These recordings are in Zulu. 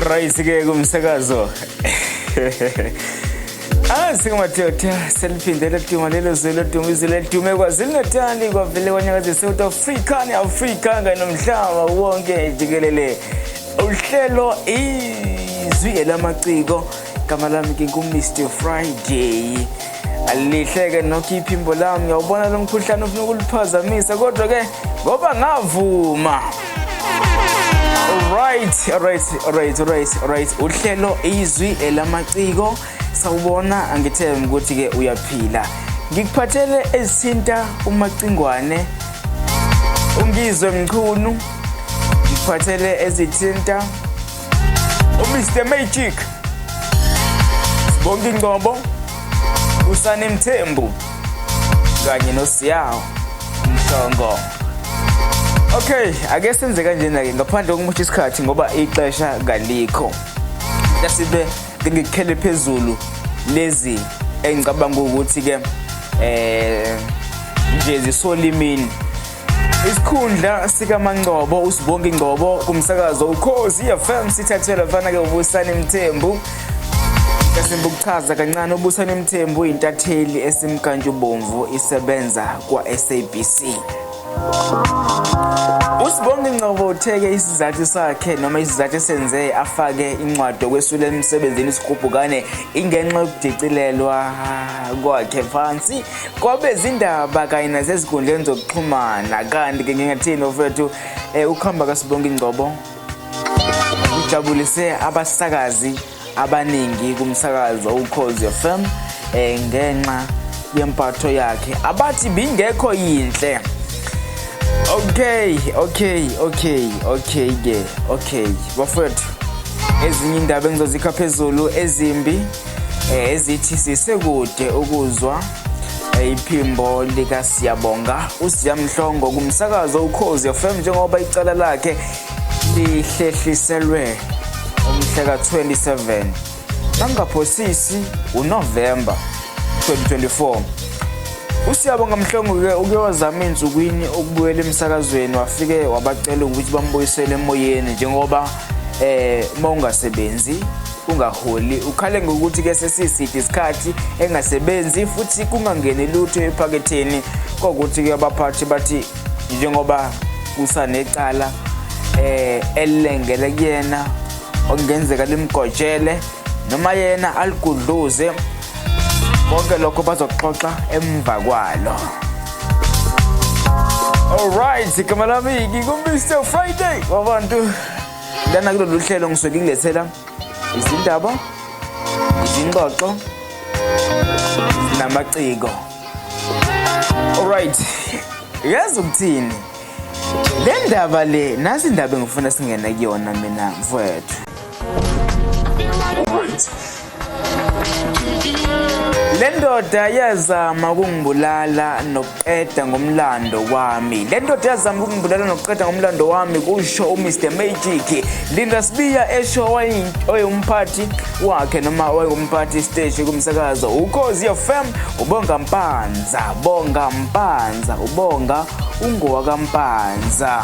right ke kumsakazo Ah singamadoda seliphinde leduma lelo zwe leduma izwe ledume kwazini natali kwavele kwanyakaze south africa ne-afrika kanye nomhlaba wonke jikelele uhlelo izwi elamaciko igama lami ke ngumr friday alihleke nokho iphimbo lami ngiyawubona lo mkhuhlane ufuna ukuliphazamisa kodwa ke ngoba ngavuma right right right right right uhlelo izwi elamaciko sawubona angithembi ukuthi ke uyaphila ngikuphathele ezithinta umacingwane ungizwe mchunu ngikuphathele ezithinta uMr Magic Bonke Ngcobo usane Mthembu kanye noSiyawo Mthongo Okay ake senze kanjena ke ngaphandle kokumosha isikhathi ngoba ixesha kalikho yasibe ngikukhele phezulu lezi engicabanga ukuthi ke eh nje zisolimini isikhundla sikamangcobo usibonke ingcobo kumsakazo ukhozi fm sithathelwa mfana-ke ubusani mthembu esimba ukuchaza kancane ubusani mthembu uyintatheli esimkantshubomvu isebenza kwa-sabc usibonge ingcobo utheke isizathu sakhe noma isizathu esenze afake incwadi okwesula emsebenzini isigubhukane ingenxa yokudicilelwa kwakhe phansi kwabezindaba kanye nasezinkundleni zokuxhumana kanti-ke ngingathini ofethu um eh, ukuhamba kasibonke ingcobo ujabulise abasakazi abaningi kumsakazo ukhozi fm um ngenxa yempatho yakhe abathi bingekho yinhle okay okay okay okay ke okay bafethu ezinye indaba engizozikhapha phezulu ezimbi eh, ezithi sisekude ukuzwa eh, iphimbo lika Siyabonga uSiya Mhlongo kumsakazo uKhozi FM njengoba icala lakhe lihlehliselwe umhla ka-27 nangaphosisi uNovember 2024 uSiyabonga Mhlongo-ke uke wazama insukwini ukubuyela emsakazweni wafike wabacela ukuthi bambuyisele emoyeni njengoba eh mawungasebenzi ungaholi ukhale ngokuthi ke sesiside isikhathi engasebenzi futhi kungangeni lutho ephaketheni kokuthi ke abaphathi bathi njengoba kusanecala eh elilengele kuyena okungenzeka limgojele noma yena aligudluze konke lokho bazoxoxa emva kwalo Alright, igama lami ngingu Mr Friday wabantu lana kulolu hlelo ngisuke ngikulethela izindaba izingxoxo namaciko alright yazi ukuthini le ndaba le nasi indaba engifuna singene kuyona mina mfowethu Le ndoda yazama ukungibulala nokuqeda ngomlando wami. Le ndoda yazama ukungibulala nokuqeda ngomlando wami kusho uMr Magic. Linda Sibiya esho oyomphathi wakhe noma oyomphathi stage kumsakazo uKhozi FM ubonga Mpanza, bonga Mpanza, ubonga ungowaka Mpanza.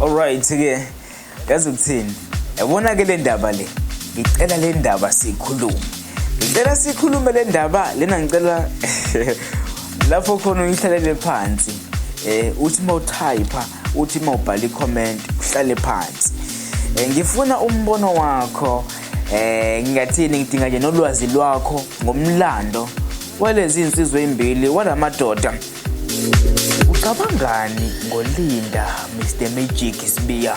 Alright ke yazi ukuthini yabona ke le ndaba le ngicela le ndaba sikhulume ngicela sikhulume le ndaba lena ngicela lapho khona uyihlalele phansi eh uthi mawutype uthi mawubhala i-comment uhlale phansi eh, ngifuna umbono wakho eh ngingathini ngidinga nje nolwazi lwakho ngomlando walezi insizwe ezimbili walamadoda Ucabangani ngoLinda Mr Magic Sibiya?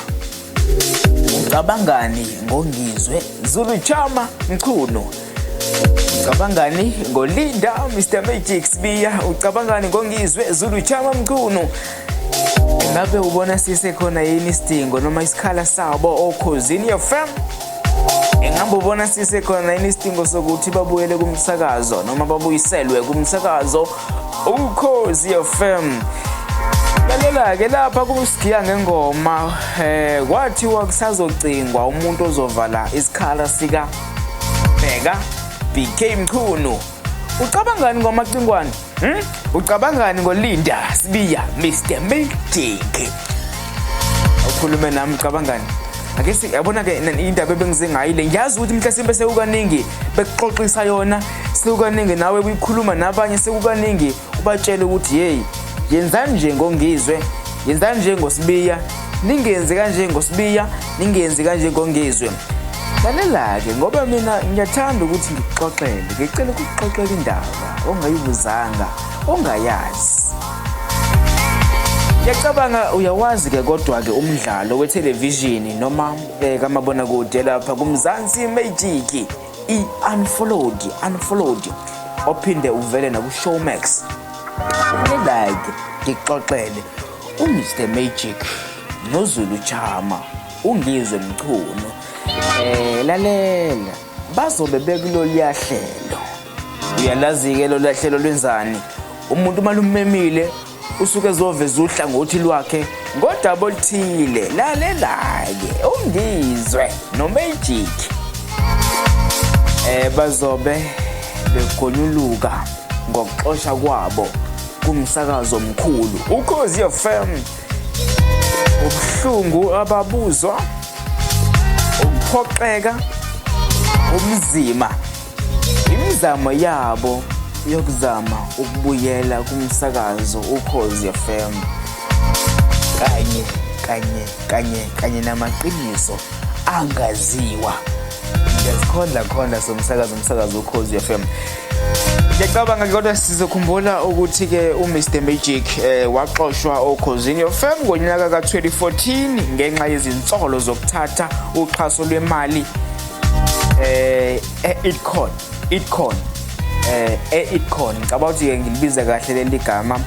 Ucabangani ngoNgizwe Zulu Chama Mchunu? Ucabangani ngoLinda Mr Magic Sibiya? Ucabangani ngoNgizwe Zulu Chama Mchunu? Ngabe ubona sisekhona yini isidingo noma isikhala sabo okhozini oh, FM? Ingabe ubona sisekhona yini isidingo sokuthi babuyele kumsakazo noma babuyiselwe kumsakazo? ukhozi fm lalela-ke lapha kusigiya ngengoma um eh, kwathiwa kusazocingwa umuntu ozovala isikhala sika bheka bk mchunu ucabangani ngomacingwane hmm? ucabangani ngolinda sibiya mr mildiki ukhulume nami ucabangani ake yabona-ke indaba ebengize ngayo le ngiyazi ukuthi mhlasimbe sewukaningi bekuxoxisa yona sekukaningi nawe kuyikhuluma nabanye sekukaningi ubatshele ukuthi yeyi yenzani nje ngongizwe yenzani nje ngosibiya ningenzi kanje ngosibiya ningenzi kanje ngongizwe lalela-ke ngoba mina ngiyathanda ukuthi ngikuxoxele ngicela ukuxoxela indaba ongayibuzanga ongayazi ngiyacabanga uyawazi-ke kodwa-ke umdlalo wethelevishini noma eh, kamabona kude lapha kumzansi magic i-unfollowed unfollowed ophinde uvele nakushowmax like ngixoxele umr magic nozulu chama ungizwe mchunu eh lalela bazobe bekuloluya hlelo uyalazi-ke loluya hlelo lwenzani umuntu uma lumemile usuke ezoveza uhlangothi lwakhe ngodaba oluthile lalelake ungizwe nomagic eh bazobe begonyuluka ngokuxosha kwabo kumsakazo omkhulu ukhozi FM ubuhlungu ababuzwa ukuphoxeka umzima Imizamo yabo yokuzama ukubuyela kumsakazo ukhozi FM kanye kanye kanye kanye namaqiniso angaziwa ngiyazikhondla khondla somsakazo umsakazo ukhozi FM ngiyacabanga kodwa sizokhumbula ukuthi-ke umr magic um waxoshwa okhozini yofem ngonyaka ka-2014 ngenxa yezinsolo zokuthatha uxhaso lwemali eh e-itcon itcon eh e-itcon ngicabanga ukuthi ke ngilibize kahle leli gama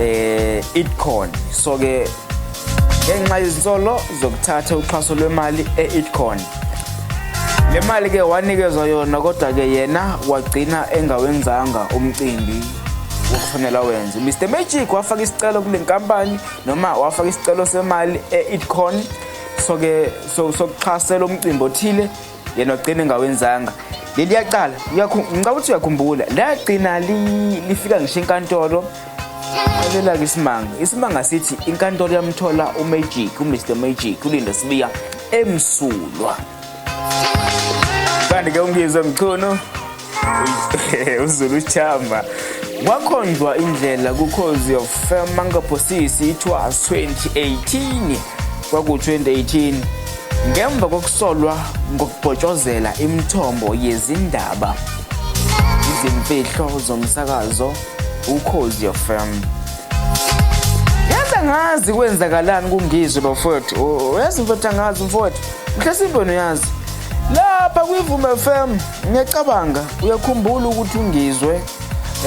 eh itcon so ke ngenxa yezinsolo zokuthatha uxhaso lwemali e-itcon le mali ke wanikezwa yona kodwa ke yena wagcina engawenzanga umcimbi wokufanela wenze Mr Magic wafaka isicelo kule nkampani noma wafaka isicelo semali e-itcon so ke so sokuxhasela umcimbi othile yena ogcina engawenzanga leli yaqala ngicabanga ukuthi uyakhumbula lagcina lifika ngisho inkantolo alela-ke isimanga isimanga sithi inkantolo yamthola umagic umr magic ulinda sibiya emsulwa kanti ke ungizwe mchunu uzulu chamba wakhonjwa indlela kukhozi of mangaphosisi ithiwa 2018 kwaku-2018 ngemva kokusolwa ngokubhotshozela imithombo yezindaba izimfihlo zomsakazo ukhozi of fam yazi angazi kwenzakalani kungizwe bafowethu yazi mfowethu angazi mfowethu Mhlasimbe noyazi lapha kwivume FM ngiyacabanga uyakhumbula ukuthi ungizwe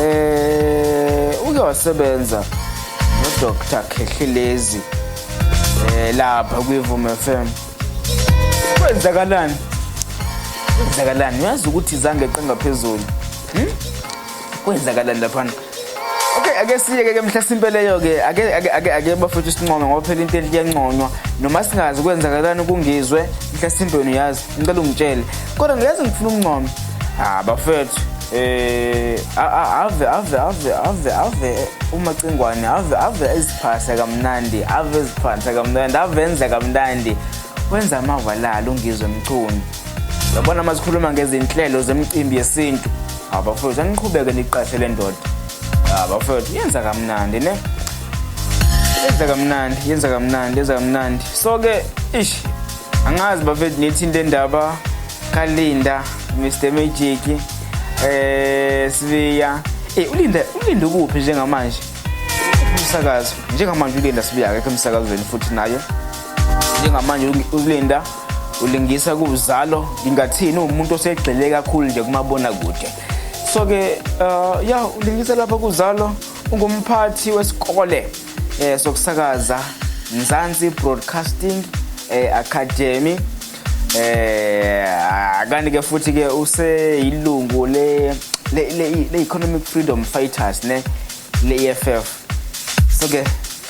eh uke wasebenza noDr Khehlelezi eh lapha kwivume FM kwenzakalani kwenzakalani uyazi ukuthi izange qenga phezulu hmm? kwenzakalani laphana okay ake siyeke ke mhlasimpe leyo ke ake ake ake ake bafethu sincome ngoba phela into enhle iyanconywa noma singazi kwenzakalani kungizwe mhlasimpe wena uyazi ngicela ungitshele kodwa ngiyazi ngifuna ukuncoma ah bafethu eh ave ave ave ave ave umacingwane ave ave eziphasa kamnandi ave eziphasa kamnandi avenza kamnandi wenza amava lalo ungizwe mchunu Yabona uma sikhuluma ngezinhlelo zemicimbi yesintu, abafowethu aniqhubeke niqashe le ndoda. Abafowethu yenza kamnandi ne. Yenza kamnandi, yenza kamnandi, yenza kamnandi. So ke ish angazi bafethu nithi into endaba kaLinda, Mr Magic, eh Sibiya. Eh uLinda, uLinda kuphi njengamanje? Umsakazo. Njengamanje uLinda Sibiya akekho emsakazweni futhi nayo. Njengamanje uLinda ulingisa kuwuzalo ngingathini uwumuntu osegxile kakhulu nje kumabona kude so ke uh, ya ulingisa lapha kuzalo ungumphathi wesikole eh sokusakaza Mzansi Broadcasting eh, Academy eh kanti ke futhi ke useyilungu le le economic freedom fighters ne le EFF so ke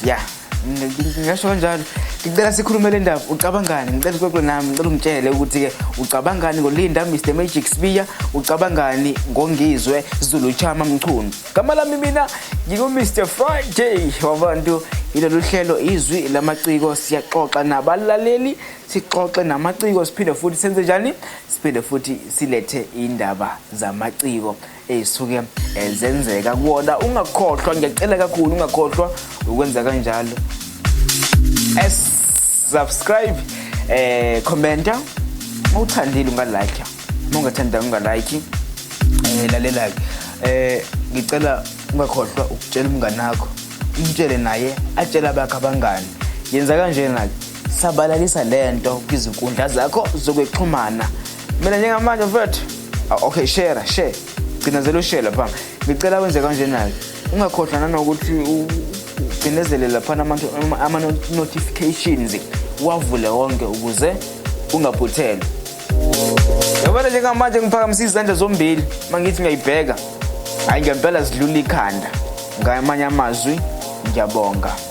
yeah ngisho kanjalo ngicela sikhulume le ndaba ucabangani ngicela uxoxe nami ngicela ungitshele ukuthi-ke ucabangani ngolinda mr magic sbiya ucabangani ngongizwe zulu chama mchunu gama lami mina ngingu-mr friday wabantu yilolu hlelo izwi lamaciko siyaxoxa nabalaleli sixoxe namaciko siphinde futhi senze njani siphinde futhi silethe indaba zamaciko ezisuke eh, zenzeka kuwona ungakhohlwa ngiyacela kakhulu ungakhohlwa ukwenza kanjalo subscribe eh commenta mawuthandile ungalike mawungathanda ungalike eh lalela ke eh ngicela ungakhohlwa ukutshela umngane wakho umtshele naye atshela bakhe abangani yenza kanjena sabalalisa lento kwizinkundla zakho zokwexhumana mina njengamanje mfethu ah, okay share share cinezela ushare lapha ngicela wenze kanjena-ke ungakhohlwa nanokuthi ucinezele laphana ama-notifications wavule wonke ukuze ungaphuthelwa yabona njengamanje ngiphakamisa izandla zombili uma ngithi ngiyayibheka hhayi ngempela zidlula ikhanda ngamanye amazwi ngiyabonga